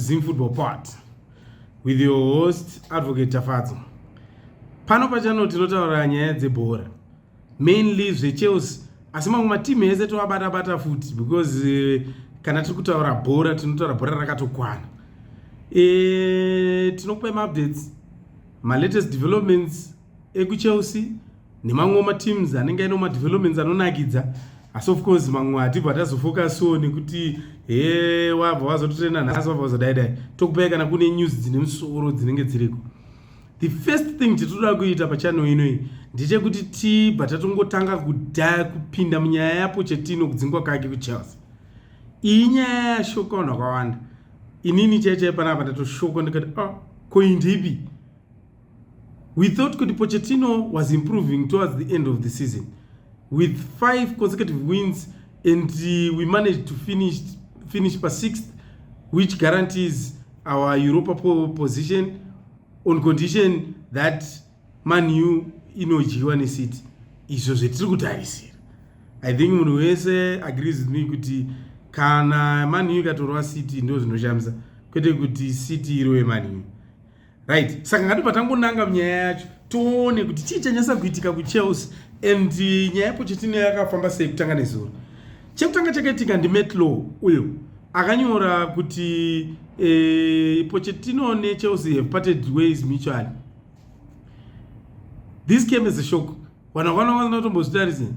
Zim Football Pod with your host Advocate Tafadzo. Pano pachano tinotaura nyaya dzebhora mainly zveChelsea asi mamwe matimu ese tovabata bata futi because eh, kana tiri kutaura bhora tinotaura bhora rakatokwana. E, tinokupai maupdates malatest developments ekuchelsea nemamwe mateams anenge aine madevelopments anonakidza asi of course mamwe hatibva tazofokaso nekuti he wabva wazototrena nhasi wabva wazodaidai tokupai kana kune news dzine musoro dzinenge dziriko the first thing titoda kuita pachano inoi ndechekuti tibva tatongotanga kudaya kupinda munyaya yapo chetino kudzingwa kake kuchelsea iyi nyaya yashoka vanhu vakawanda inini chaichai panapa ndatoshoka ndikati oh, ah, koindipi We thought kuti Pochettino was improving towards the end of the season with five consecutive wins and uh, we managed to finish, finish pa sixth which guarantees our Europa position on condition that Man U inodyiwa neCity. Izvo zvetiri kutarisira. I think munhu wese agrees with me kuti kana Man U ikatorwa City ndozvinoshamisa kwete kuti City irowe Man U. right saka ngatibva tangonanga nyaya yacho tione kuti chii chanyasa kuitika kuchelsea and eh, nyaya yepochetino yakafamba sei kutanga nezuro chekutanga chakaitika ndimetlow uyo akanyora kuti e, eh, pochetino nechelsea have parted ways mutually this came as a shock vanhu vakana vanotombozvitarise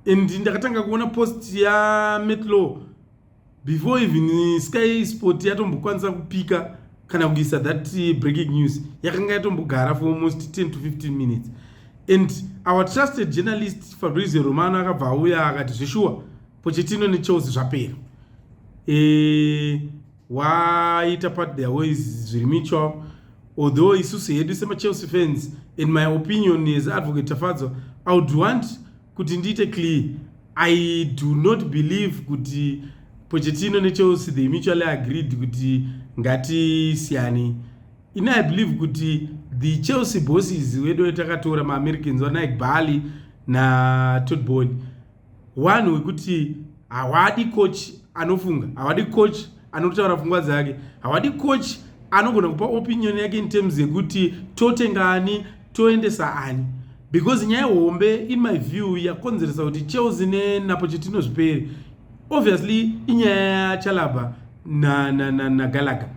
and ndakatanga kuona post yametlow before even sky sport yatombokwanisa kupika kana kuisa that eh, breaking news yakanga yatombogara for almost 10 to 15 minutes and our trusted journalist fabrizio romano akabva auya akati zveshuwa pochetino nechels zvapera e, waita part their ways zviri mutual although isusu hedu semachelsea fans in my opinion as advocate tafadzwa i would want kuti ndiite clear i do not believe kuti pochetino nechelsea they mutually agreed kuti ngatisiyani ini i believe kuti the chelsea bosses wedu vetakatora maamericans vanike bali natodbol one wekuti hawadi coach anofunga hawadi coach anotaura pfungwa dzake hawadi coach anogona kupa opinion yake in terms yekuti totenga ani toendesa ani because nyaya hombe in my view yakonzeresa kuti chelsea nenapo chetino zviperi obviously inyaya yachalabha nagalaga na, na, na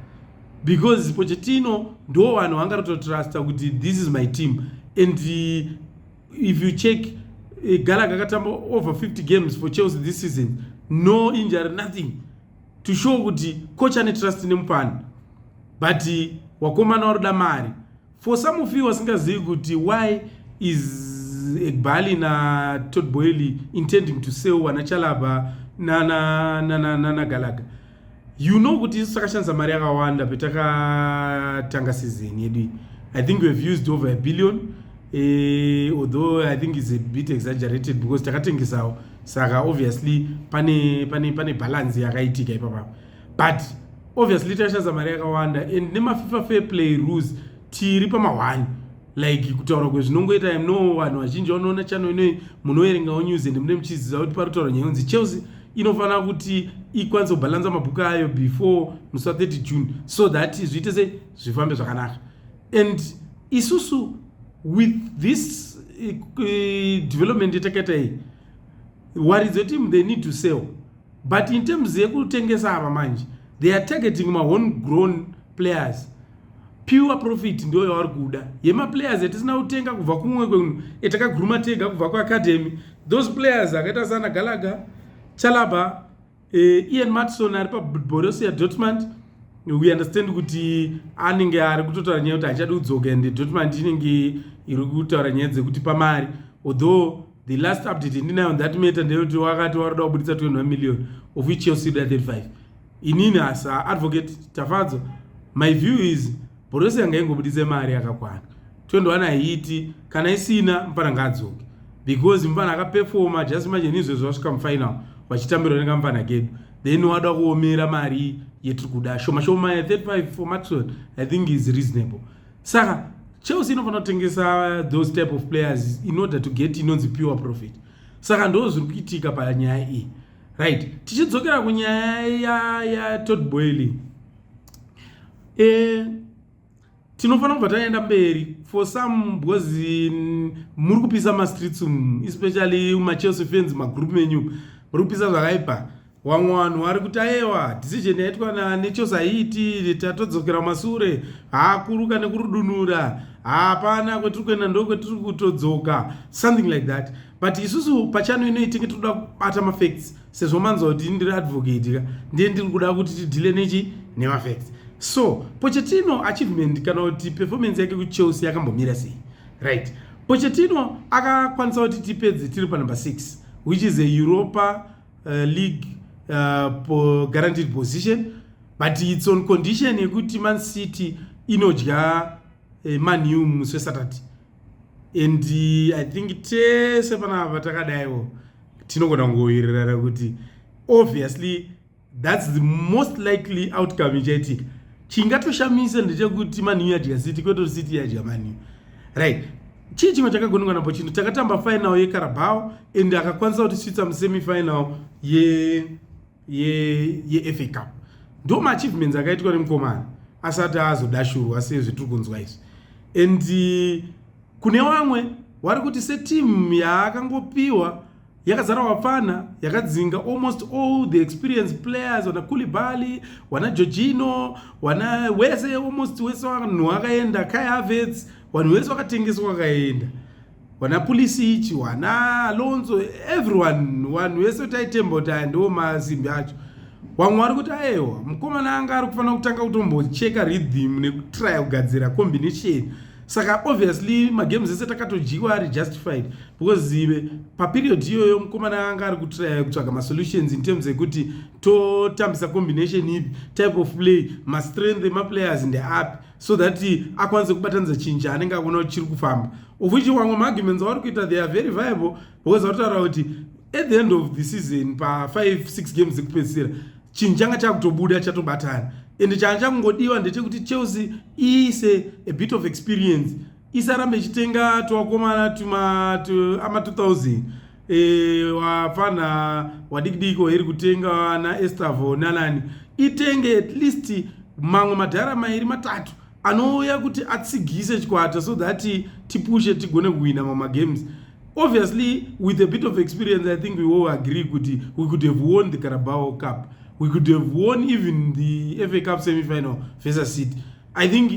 because pochetino ndo vanhu vanga ratotrusta kuti this is my team and uh, if you check uh, galaga akatamba over 50 games for chelsea this season no injury nothing to show kuti coach ane trust nemupani but wakomana waroda mari for some of you wasingazivi kuti why is egbali na tod boily intending to sell wana chalaba nanagalaga you know kuti isu takashandisa mari yakawanda petakatanga season yedu i think we have used over a billion eh, although i think is a bit exaggerated because takatengesawo saka obviously pane pane pane balance yakaitika ipapa but obviously tashandisa mari yakawanda and nemafifa fair play rules tiri pamahwani like kutaura kwezvinongoita no vanhu vazhinji vanoona chano inoi munoerengawo news and mune muchiziva kuti pari kutaura nyaya yonzi chelsea inofanira kuti ikwanise kubhalansa mabhuku ayo before musi wa 30 june so that zviite se zvifambe zvakanaka and isusu with this uh, development yetakaita iyi waridzo team they need to sell but in terms yekutengesa ava manje they are targeting mahone grown players pure profit ndiyo yavari kuda yemaplayers yatisina kutenga kubva kumwe kwenhu etakaguruma tega kubva kuacademy those players akaita sana galaga chalaba uh, ian matson ari paborussia dortmund we understand kuti anenge ari kutotaura nyaya kuti hachadi kudzoka and dortmund inenge iri kutaura nyaya dzekuti pamari although the last update ndinayo on that matter ndeyekuti wakati waroda kubuditsa 21 million of which chelsea da 35 inini as advocate tafadzwa my view is bhorosi yanga ingobuditse mari yakakwana 21 haiti kana isina mfana ngaadzoke because mfana akapefoma just manje nizvezvo vasvika mufinal vachitambirwa nekamfana kedu then wada kuomera mari yetiri kuda shoma shoma ya 35 for maxwell i think is reasonable saka chelsea inofanira kutengesa those type of players in order to get inonzi pure profit saka ndo zviri kuitika panyaya iyi right tichidzokera kunyaya yatod boyli eh, tinofanira kubva taenda mberi for some because mm, muri kupisa mastreets umu especially machelsea fans magroup menyu muri kupisa zvakaipa wamwe vanhu vari kuti ayewa decision yaitwa nechelsea haiiti tatodzokera masure haakuruka nekurudunura hapana kwetiri kuenda ndo kwetiri kutodzoka something like that but isusu pachano inoitenge tiri kuda kubata mafacts sezvo manzwa kuti ndiri advocate ka ndiye ndiri kuda kuti tidhile nechi nemafacts so pochetino achievement kana kuti performance yake kuchelsea yakambomira sei right pochetino akakwanisa kuti tipedze tiri panumber 6 which is a europa uh, league uh, guaranteed position but its on condition yekuti man city inodya uh, manew musi wesaturday and uh, i think tese panapa takadaiwo tinogona kungowirirana kuti obviously thats the most likely outcome ichaitika chingatoshamisa ndechekuti maniu yadya city kweto city yadya maniu right chii chimwe chakagonekwa napo chinhu takatamba final yecarabao and akakwanisa kuti switsa musemifinal ye yeah. yefa ye cup ndo maachievements akaitwa nemukomana asati azodashurwa sezvetiri kunzwa izvi and eh, kune vamwe wari kuti setimu yaakangopiwa yakazara wapfana yakadzinga almost all the experience players wana kulibali wana georgino wana wese almost wese vanhu akaenda kayavets vanhu vese vakatengeswa vakaenda wana pulisichi wana alonzo everyone vanhu vese taitemba kuti aya ndiwo mazimbi acho wamwe wari kuti aewa mukomana anga ari kufanira kutanga kutombocheka rhythm nekutraya kugadzira combination saka obviously magames ese takatojiwa ari justified because ive paperiod iyoyo mukomana anga ari kutraya kutsvaga masolutions in terms ekuti totambisa combination ipi type of play mastrength emaplayers ndeapi so that akwanise kubatanidza chinhu chaanenge akuona kuti chiri kufamba of which wamwe maarguments avari kuita they are very viable because vari kutaura kuti at the end of the season pa5 6 games ekupedzisira chinhu changa chakutobuda chatobatana ende changa chakungodiwa ndechekuti chelsea iise a bit of experience isarambe ichitenga tuvakomana tuma ama 2000 e, wapfanha wadikidiki wairi kutenga naestavo nanani itenge at least mamwe madhara mairi matatu anouya kuti atsigise chikwata so that tipushe tigone kuhwina mamagames obviously with a bit of experience i think we all agree kuti we could have won the carabao cup we could have won even the fa cup semifinal versus city i think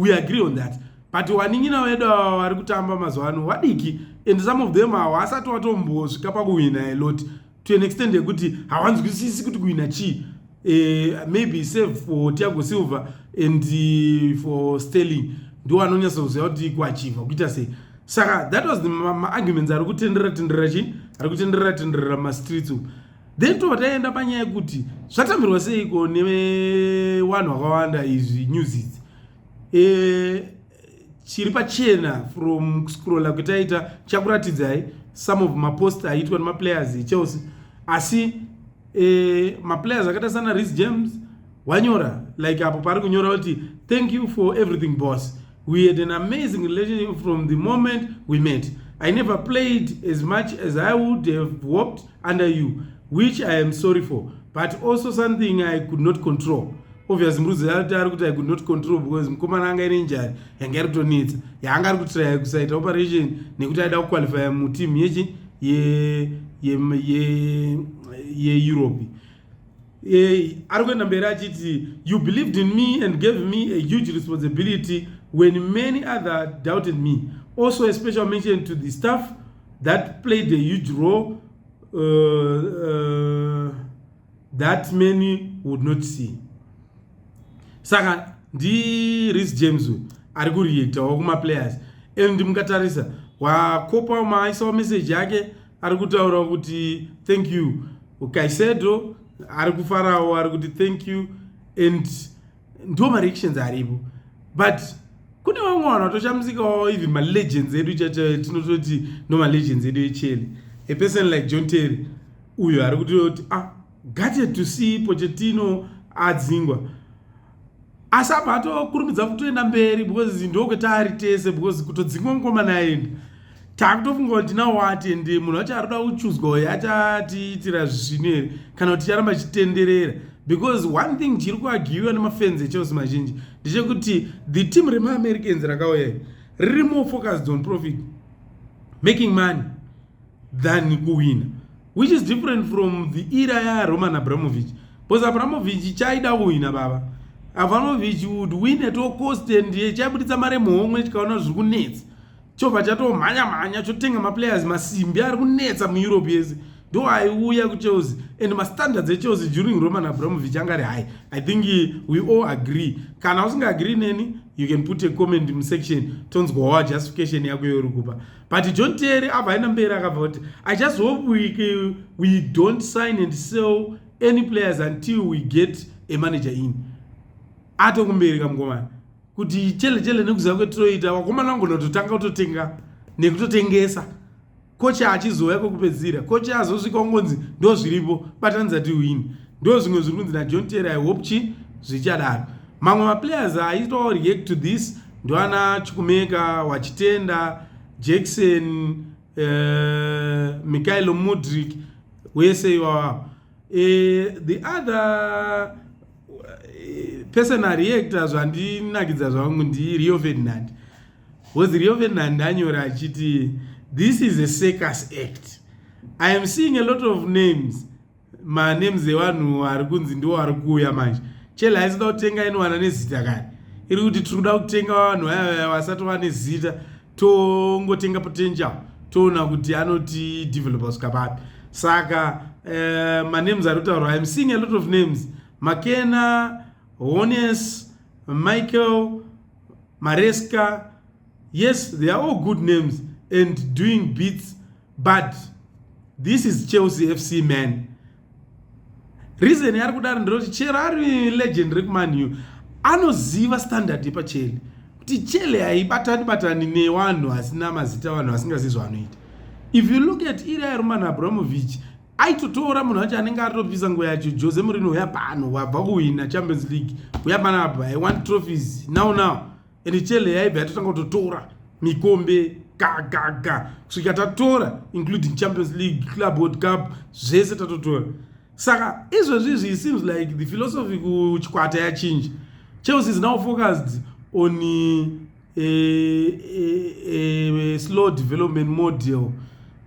we agree on that but wanin'ina wedu ava vari kutamba mazuva ano vadiki and some of them hawasati watombosvika pakuhwina a lot to an extent yekuti hawanzwisisi kuti kuhwina chii eh, maybe save for tiago silver and eh, for sterling ndiwo anonyatsoziva kuti kuachivha kuita sei saka that was maarguments ari kutenderera tenderera chii ari kutenderera tenderera mumastreets uku then tobva taienda panyaya yekuti zvatambirwa seiko nevanhu vakawanda izvi news idzi eh, chiri pachena from kuscrolla kutaita chakuratidzai some of mapost aitwa nemaplayers echelsea asi eh, maplayers akaita sana ris james wanyora like apo paari kunyora kuti thank you for everything boss we had an amazing relationship from the moment we met i never played as much as i would have hoped under you which i am sorry for but also something i could not control obvious murudzi yati ari kuti i could not control because mukomana anga ine njari yanga iri kutonetsa yaanga ari kutiraya kusaita operation nekuti aida kuqualifya muteam yechi yeeurope e, ari kuenda mberi achiti you believed in me and gave me a huge responsibility when many other doubted me also a special mention to the staff that played a huge role uh, uh, that many would not see saka ndi ris james uyu ari kureactawo kumaplayers and mukatarisa wakopa maaisawo message yake ari kutaura kuti thank you kaisedo ari kufarawo ari kuti thank you and ndo mareactions aripo but kune vamwe vanhu vatoshamsikawo even malegends edu tinototi no malegends edu echele a person like john terry uyo ari kutoti ah gate to see pochetino adzingwa asi apa atokurumidza kutoenda mberi because ndokwetaari tese because kutodzingwa mukoma naenda takutofunga kuti tina wati and munhu wacho arikuda kuchuzwa uyo achatiitira zvisvinu here kana kuti ticharamba chitenderera because one thing chiri kuagiwiwa nemafenzi echelsea mazhinji ndechekuti the team remaamericans rakauya riri more focused on profit making money than kuwina which is different from the era yaroman abramovich because abramovich chaida kuwina baba abramovich would win at all cost and chaibuditsa mari muhomwe chikaona zviri kunetsa chobva chatomhanya mhanya chotenga maplayers masimbi ari kunetsa mueurope yese ndo aiuya kuchelsea and mastandards echelsea during roman abramovich anga ari high i think we all agree kana usingaagree neni you can put a comment musection tonzwawa justification yako youri kupa but john terry abva aenda mberi akabva kuti i just hope we, we don't sign and sell any players until we get a manager in atokumberi kamkomana kuti chele chele nekuziva kwetinoita vakomana vangu nototanga kutotenga nekutotengesa kocha achizouya kwekupedzisira kocha azosvika ungonzi ndo zviripo batanidza tiwini ndo zvimwe zviri kunzi najohn ter i hope chi zvichadaro mamwe maplayers aitawo react to this ndoana chikumeka wachitenda jackson Eh, Mikhailo Mudrik wese iwawa eh, the other Eh, personal reactor zvandinakidza zvangu ndi rio ferdinand bcause rio ferdinand anyora achiti this is a circus act i am seeing a lot of names manames evanhu ari kunzi ndiwo ari kuuya manje chele haisida kutenga inowana nezita kani iri kuti tiri kuda kutenga vanhu vaya vaya vasati vane zita tongotenga potential toona kuti anoti developer kusvika papi saka uh, manemes ari kutaurwa im seeing a lot of names makena hones michael maresca yes they are all good names and doing beats but this is chelsea fc man reason yaari kudaro ndiroti chero ari legend rekumanyu anoziva standard yepacheli kuti chele haibatani batani newanhu asina mazita vanhu vasingazivi zvavanoita if you look at iri aeroman abramovich aitotora munhu wacho anenge atopisa nguva yacho jose murino uya pano wabva kuhwina champions league uya pano apa i want trophies now now ende chele yaibva yatotanga kutotora mikombe gagaga kusvika tatora including champions league club world cup zvese tatotora saka izvezvizvi it seems like the philosophy kuchikwata yachinja chelsea is now focused on a, a, a, a slow development model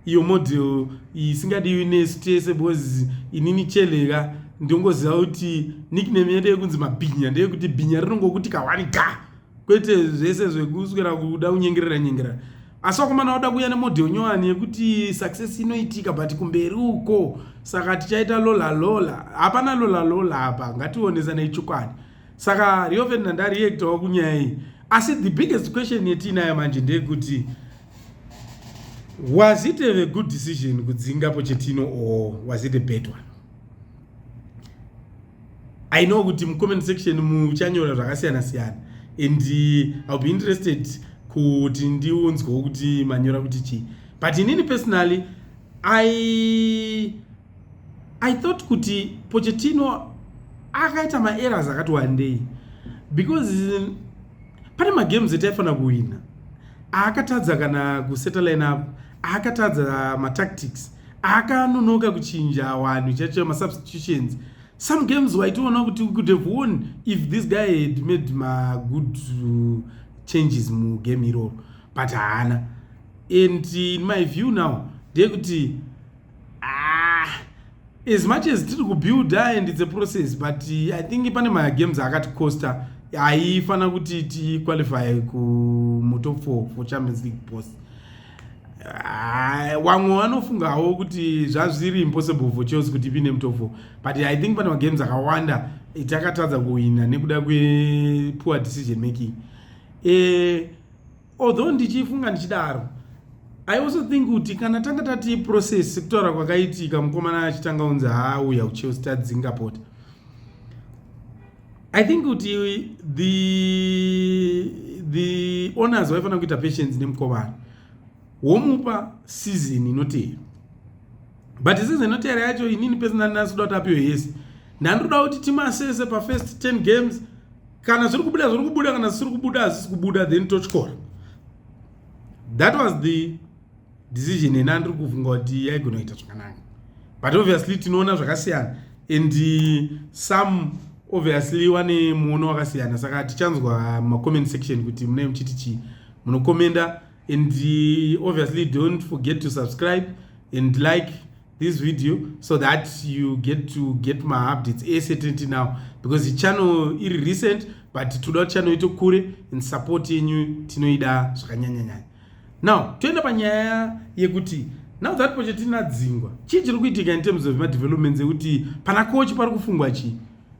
iyo model isingadiwi nesu tese because inini cheleka ndongoziva kuti nickname yedu yekunzi mabhinya ndeyekuti bhinya rinongokuti kahwani ga kwete zvese zvekuswera kuda kunyengerera nyengerera asi wakomana wada kuuya nemodel nyowani yekuti success inoitika but kumberi uko saka tichaita lola lola hapana lola lola apa ngationesanei chokwadi saka rio ferdinand ariektawo kunyaya iyi asi the biggest question yetiinayo manje ndeyekuti Was it a good decision kudzinga Pochettino or was it a bad one? I know kuti mu comment section muchanyora zvakasiyana siyana and uh, I'll be interested kuti ndiunzwewo kuti manyora kuti chii but inini personally I I thought kuti Pochettino akaita maerrors akati wandei because pane magames etaifanira kuwina aakatadza kana kuseta line up aakatadza matactics akanonoka kuchinja wanhu chacho masubstitutions some games waitoona kuti we could have won if this guy had made magood uh, changes mugame iroro but haana and in my view now ndeyekuti ah, as much as tiri kubuilda and its a process but i think pane magames akati costa aifanira kuti tiqualify kumutop four for champions league post ah, vamwe uh, vanofungawo kuti zvazviri impossible for chelsea kuti ipinde mutop four but i think pane magames akawanda takatadza kuhwina nekuda kwepoor decision making eh, although ndichifunga ndichidaro i also think kuti kana tanga tati process sekutaura kwakaitika mukomana achitanga unzi haauya kuchelsea tadzinga pota i think kuti the the owners vaifanira kuita patience nemukomana womupa season inotevera but this is inoteera yacho inini personally ndasida kuti apiwe yese ndandoda kuti timu asese pafirst 10 games kana zviri kubuda zviri kubuda kana zvisiri kubuda hazvisi kubuda then totyora that was the decision yena andiri kufunga kuti yaigona kuita zvakanaka but obviously tinoona zvakasiyana and some obviously wane muono wakasiyana saka tichanzwa macomment section kuti munee muchiti chii munokomenda and uh, obviously don't forget to subscribe and like this video so that you get to get my updates asatenti now because ichannel iri recent but toda kuti channel ito kure and support yenyu tinoida zvakanyanyanyanya now toenda panyaya yekuti now that pochetina dzingwa chii chiri kuitika in terms of madevelopments ekuti pana kochi pari kufungwa chii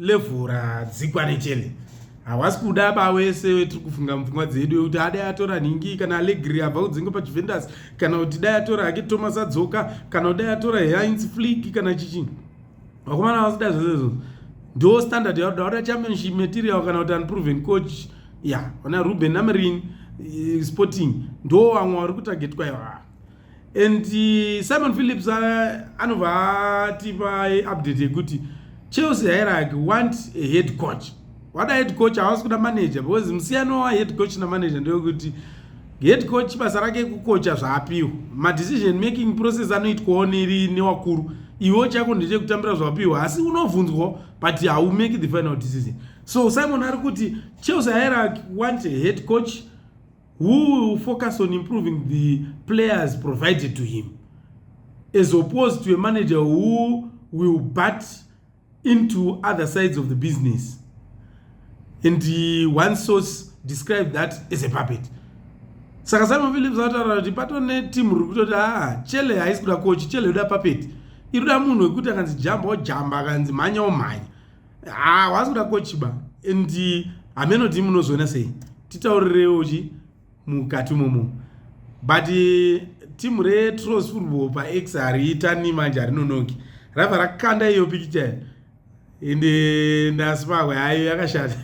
level radzikwa nechele hawasi kuda ba wese wetiri kufunga mupfungwa dzedu wekuti adai atora nhingi kana alegri abva kudzinga pajuventus kana kuti dai atora hake thomas adzoka kana kuti dai atora heinz flik kana chichi vakomana vasida zvezvezvo ndo standard yaoda wada championship material kana kuti unproven coach ya ona ruben namerin eh, sporting ndo vamwe vari kutargetwa iwaa and uh, simon phillips anobva atipa update yekuti chelsea hairaki want a head coach wada head coach havasi kuda manager because musiyano wahead coach namanager ndewekuti head coach basa rake kukocha zvaapiwa madecision making process anoitwawo neri newakuru iwo chako ndechekutambira zvapiwa asi unobvunzwa but hau make the final decision so simon ari kuti chelsea hairaki want a head coach who will focus on improving the players provided to him as opposed to a manager who will bat into other sides of the business and uh, one source described that as a puppet saka simon philips anotaura kuti pato netimu riri kutoti a ah, chele haisi kuda kochi chele yoda puppet iri kuda munhu wekuti akanzi jamba ojamba akanzi mhanya omhanya haa ah, wazi kuda kochiba and hameno ti munozoona sei titaurirewo chi mukati momo but timu retros football pax hariitani manje harinonoki rava rakanda iyo pikicha ende ndasi pakwe hayo yakashata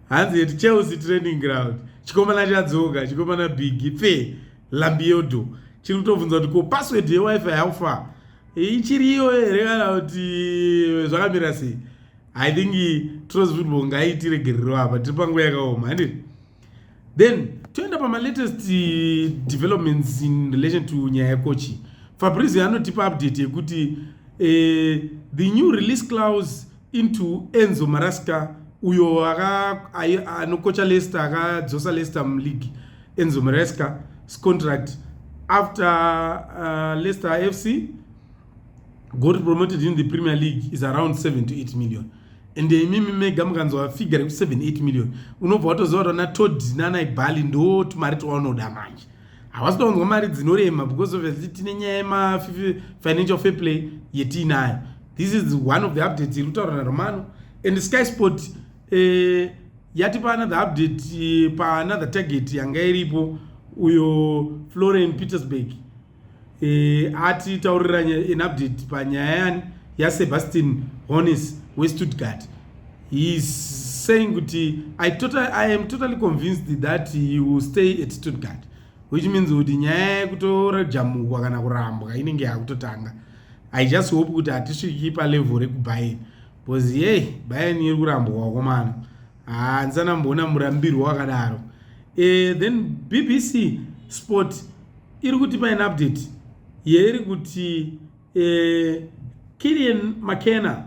hanzi yeti chelsea training ground chikomana chadzoka chikomana bigi fe lambiodo chiri kutobvunza kuti ko password yewifi how far ichiri iyo here kana kuti zvakamira sei i think tros football ngaitiregerero apa tiri panguva yakaoma handi then toenda pamalatest eh, developments in relation to nyaya yekochi fabrizio anotipa update yekuti uh, the new release clause into Enzo Marasca uyo anokocha Leicester akadzosa Leicester muleague Enzo Marasca contract after uh, Leicester FC got promoted in the Premier League is around 7 to 8 million and imimi mega mukanzwa figure reku 7 8 million unobva watoziva kuti ana Todd nana Ibali ndo tumari twaunoda manje havasi kuwanzwa mari dzinorema because obviously tine nyaya yemafinancial fair play yetiinayo this is one of the updates iri kutaura naromano and sky sport eh, yatipa another update eh, paanother target yanga iripo uyo florian petersburg e, ati taurira an update panyaya yani yasebastian honis westuttgart heis saying kuti I, total, i am totally convinced that he will stay at stuttgart which means kuti nyaya yekutorajamukwa kana kurambwa inenge yakutotanga i just hope kuti hatisviki palevel rekubain bcause yey bain iri kurambwa wakomana handisana mboona murambirwo wakadaro e, then bbc sport iri kuti paine update yeiri kuti e, eh, kilian mckenna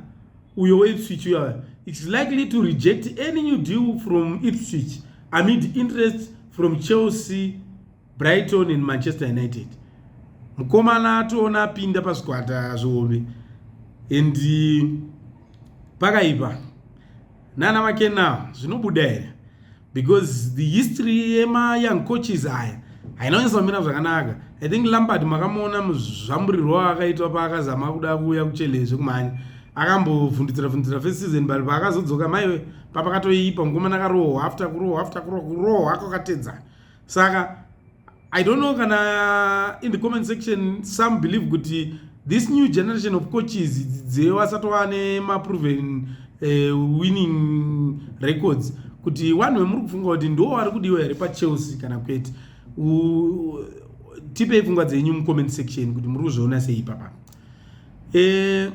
uyo weipswich uya its likely to reject any new deal from ipswich amid interest from chelsea Brighton and Manchester United. Mukomana atoona apinda pazvikwata zvihombe and pakaipa nana make now zvinobuda here because the history yema young coaches aya haina kunyatsa kumira zvakanaka i think lambard makamuona muzvamburirwo akaitwa paakazama kuda kuuya kuchelezve kumhanya akambovhundutsira vhundutsira first season but paakazodzoka maiwe papakatoipa mukomana akarohwa after kurohwa after kurohwa kurohwa kwakatedzana saka i don't know kana in the comment section some believe kuti this new generation of coaches dzevasatova nemaproven uh, eh, winning records kuti wanhu vemuri kufunga kuti ndiwo vari kudiwa here pachelsea kana kwete tipei pfungwa dzenyu mucomment section kuti muri kuzviona sei ipapa e, eh,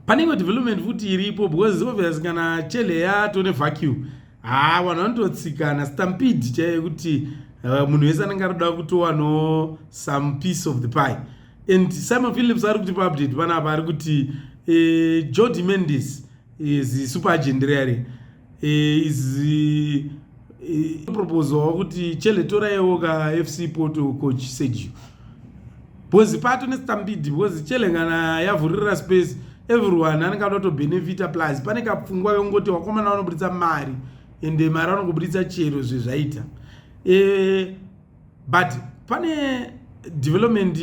pane imwe development futi iripo because obvious kana chele yato nevacuum haa vanhu vanototsikana stampede chaiye kuti uh, munhu wese anenge anoda kutowano some piece of the pie and simon philips ari kuti paupdate panapa ari kuti uh, eh, jodi mendis is super agent reare eh, is eh, proposal wakuti chele toraiwo ka fc poto coach sergio bhozi pato nesitambidi because chele kana yavhurira space everyone anenge anoto benefita plus pane kapfungwa yongoti wakomana vanoburitsa mari ende mari vanongoburitsa chero zvezvaita e, but pane development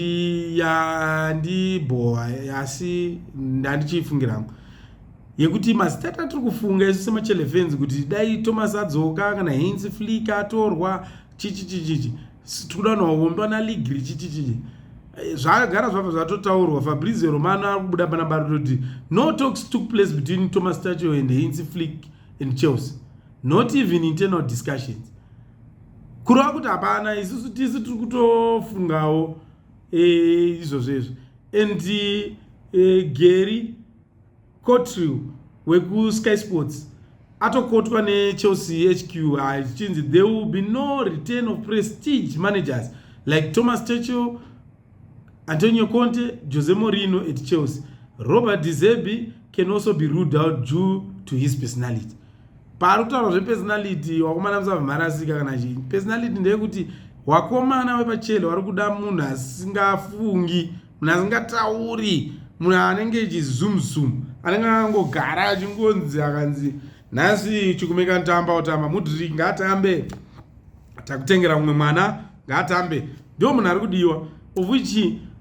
yandibhowa asi ndandichiifungira hangu yekuti mazitata tiri kufunga isu semachelefenzi kuti dai thomas adzoka kana heinsi flika atorwa chichichichichi tikuda nowombwa naligri chichichichi eh, zvagara zvabva zvatotaurwa fabrizio romano ari kubuda pana baruto kuti no talks took place between thomas tacho and heinsi flik and chelsea not even internal discussions kurova kuti hapana isusu tisu tiri kutofungawo eh, izvozvo izvo and eh, gary cotrill wekusky sports atokotwa nechelsea hq zvichinzi there will be no return of prestige managers like thomas churchill Antonio Conte, Jose Mourinho at Chelsea. Robert De Zerbi can also be ruled out due to his personality. Paari kutaura zvepersonality wakomana musava mharasika kana chii. Personality ndeyekuti wakomana wepachele wari kuda munhu asingafungi, munhu asingatauri, munhu anenge echizoom zoom, anenge angogara achingonzi akanzi nhasi chikumeka ntamba otamba mudriki ngaatambe takutengera mumwe mwana ngaatambe ndiwo munhu ari kudiwa of which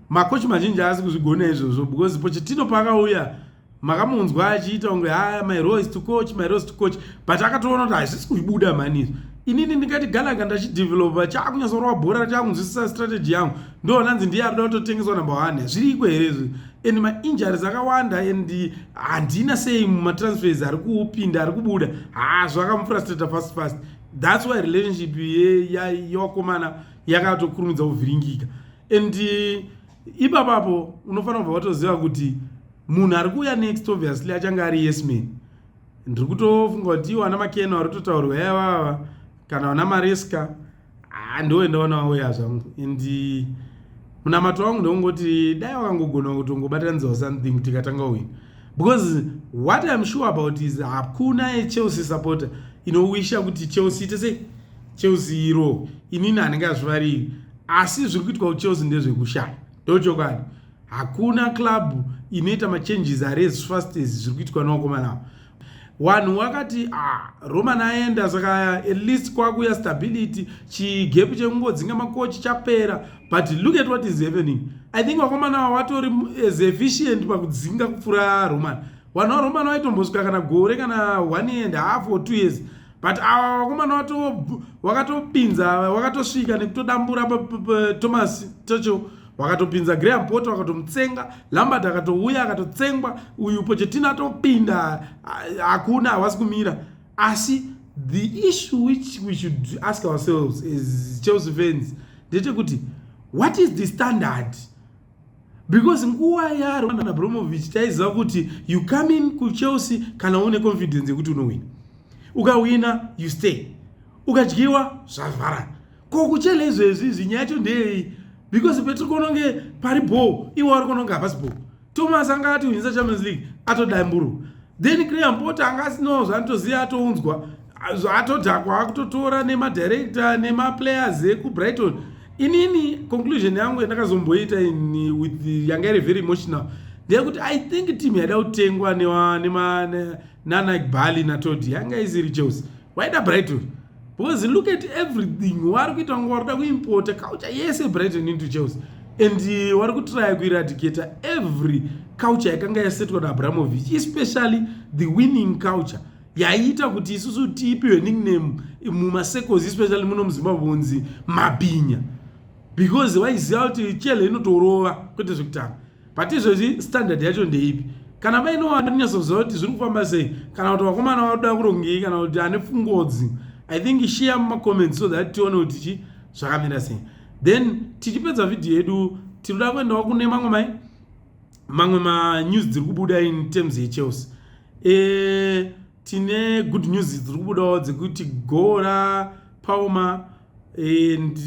makochi mazhinji aasi kuzvigona izvozvo because pochetino paakauya makamunzwa achiita kunge haya my rose to coach my rose to coach but akatoona kuti hazvisi kuibuda mhani izvo inini ndikati galaka ndachidevelopa chakunyatsorova bhora chakunzwisisa strategy yangu ndoona nzi ndiye arida kutotengeswa number one hazviriko here izvi and mainjuries akawanda and handina sei mumatransfers ari kupinda ari kubuda hazvo akamufrustrata fast fast thats why relationship yevakomana ya, yakatokurumidza kuvhiringika and eh, ipapapo unofanira kubva watoziva kuti munhu ari kuuya next obviously achange ari yesman ndiri kutofunga kuti iwo ana makena vari kutotaurwa yavava kana vana mareska handoenda vana vauya zvangu and eh, munamato wangu ndokungoti dai wakangogona kutongobatanidzawo something tikatanga wini because what iam sure about is hakuna yechelsea supporter inowisha kuti chelsea ite sei chelsea iro inini anenge azvivariri asi zviri kuitwa kuchelsea ndezvekushaya ndochokwadi hakuna club inoita machanges are as fast as zviri kuitwa nevakomana avo wanhu wakati ah, roman aenda saka at least kwakuya stability chigepu chekungodzinga makochi chapera but look at what is happening i think vakomana ava vatori as efficient pakudzinga kupfuura roman vanhu varoman vaitombosvika kana gore kana one year and half or two years but awa vakomana vato vakatopinza vakatosvika nekutodambura thomas tocho wakatopinza graham pot wakatomutsenga lambert akatouya akatotsengwa uyu pochetina atopinda hakuna hawasi kumira asi the issue which we should ask ourselves as chelsea fans ndechekuti what is the standard because nguva yaroman abromovich taiziva kuti you come in kuchelsea kana une confidence yekuti unohwina ukahwina you stay ukadyiwa zvavharana ko kuchela izvezvi izvi nyaya yacho ndeyei because petiri kuona kunge pari bho iwe wari kuona kunge hapasi bho thomas anga atihwinisa champions league atodamburo then cream pota anga asinawo zvaanotoziva atounzwa zvaatodhakwa akutotora nemadirector nemaplayers ekubrighton inini conclusion yangu yandakazomboita ini with yanga iri very emotional ndeyekuti i think team yaida kutengwa nana gbali natodi yanga isiri chelsea waida brighton because look at everything wari kuita kunge wari kuda kuimpota culture yese brighton into chelsea and uh, wari kutraya kuiradicata every culture yakanga yasetwa naabramovich especially the winning culture yaiita kuti isusu tiipiwe nickname mumasecos especially muno muzimbabwe unzi mabhinya because waiziva kuti chele inotorova kwete zvekutanga but izvozvi standard yacho ndeipi kana vaine wanonyatsoziva kuti zviri kufamba sei kana kuti vakomana vakuda kurongei kana kuti ane pfungodzi i think share mumacomments so that tione kuti chi zvakamira sei then tichipedza vhidhiyo yedu tinoda kuendawo kune mamwe mai mamwe manews dziri kubuda in terms yechelsea e, tine good news dziri kubudawo dzekuti gora pauma and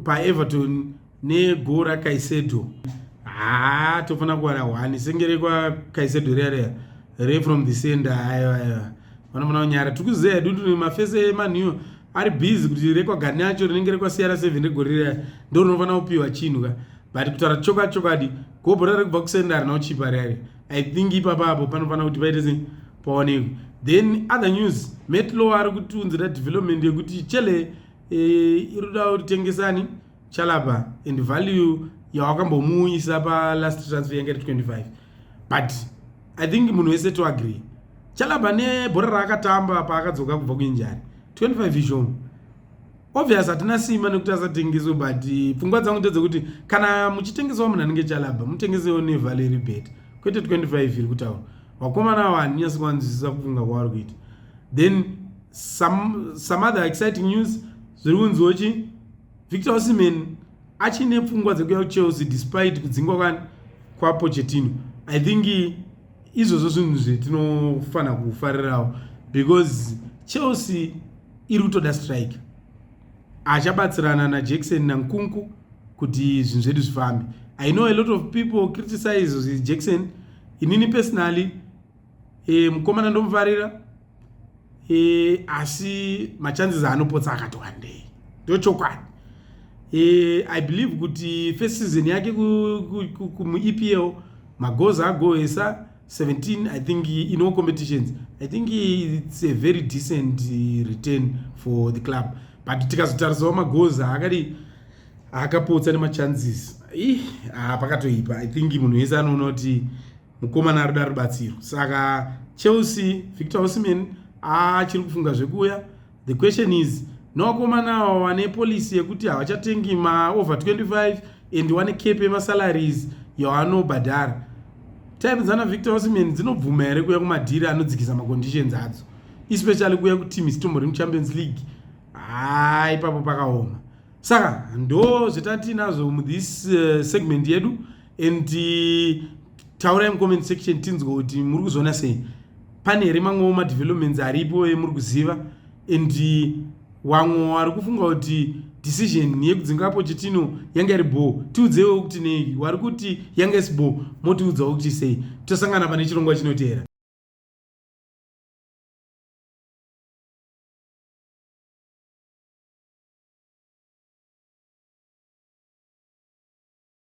paeverton nego rakaisedo haa tofanira kuwana one senge rekwakaisedo reya reya re from the center aiwa aiwa vanofanira kunyara tiri kuziva hedu kuti mafese emanhiyo ari busy kuti rekwagani acho rinenge rekwasiyana seven regore reya ndo rinofanira kupiwa chinhu ka but kutaura choka chokadi gobho rari kubva kusenda harina kuchipa rari i think ipapa apo panofanira kuti paite sei paonekwe then other news metlow ari kutiunzira development yekuti chele eh, iri kuda kuti tengesani e, chalapa and value yawakambomuuyisa palast transfer yanga iri 25 but i think munhu wese to agree chalapa nebhora raakatamba paakadzoka kubva kuinjari 25 ishomu obvious hatina simba nekuti asatengeswe but eh, pfungwa dzangu ndedzekuti kana muchitengesawo munhu anenge chalaba mutengesewo nevaleri bet kwete 25 iri kutaura vakomana avo handinyasi kuvanzwisisa kufunga kwavari kuita then some, some other exciting news zviri kunziwo chii Victor Osimhen achine pfungwa dzekuya kuchelsea despite kudzingwa kwani kwapochetino i think izvozvo zvinhu zvetinofanira kufarirawo because chelsea iri kutoda strike achabatsirana najackson nankunku kuti zvinhu zvedu zvifambe i know a lot of people criticize jackson inini personally e, mukomana ndomufarira e, asi machances anopotsa akati wandei ndochokwadi e, i believe kuti first season yake kumuepl magoza agoesa 17 i think in all competitions i think it's a very decent uh, return for the club but tikazotarisawo magoza akadi akapotsa nemachances ih ah, pakatoipa i think munhu wese anoona kuti mukomana arida rubatsiro saka chelsea victor osimen achiri kufunga zvekuuya the question is novakomana ava wane policy yekuti havachatengi maover 25 and wane cape yemasalaries yawanobhadhara time dzana victor osimen dzinobvuma here kuya kumadhiri anodzikisa maconditions adzo especially kuya kuteam isitombo remuchampions league haa ipapo pakaoma saka ndo zvetatiinazvo muthis uh, segment yedu and uh, taurai mucomment section tinzwa kuti muri kuzviona sei pane here mamwewo madevelopments aripo emuri kuziva and uh, wamwe wari kufunga kuti decision yekudzinga pochitino yanga iri bho tiudzewo kuti nei wari kuti yanga isi bho motiudzawo kuti sei tosangana pane chirongwa chinoteera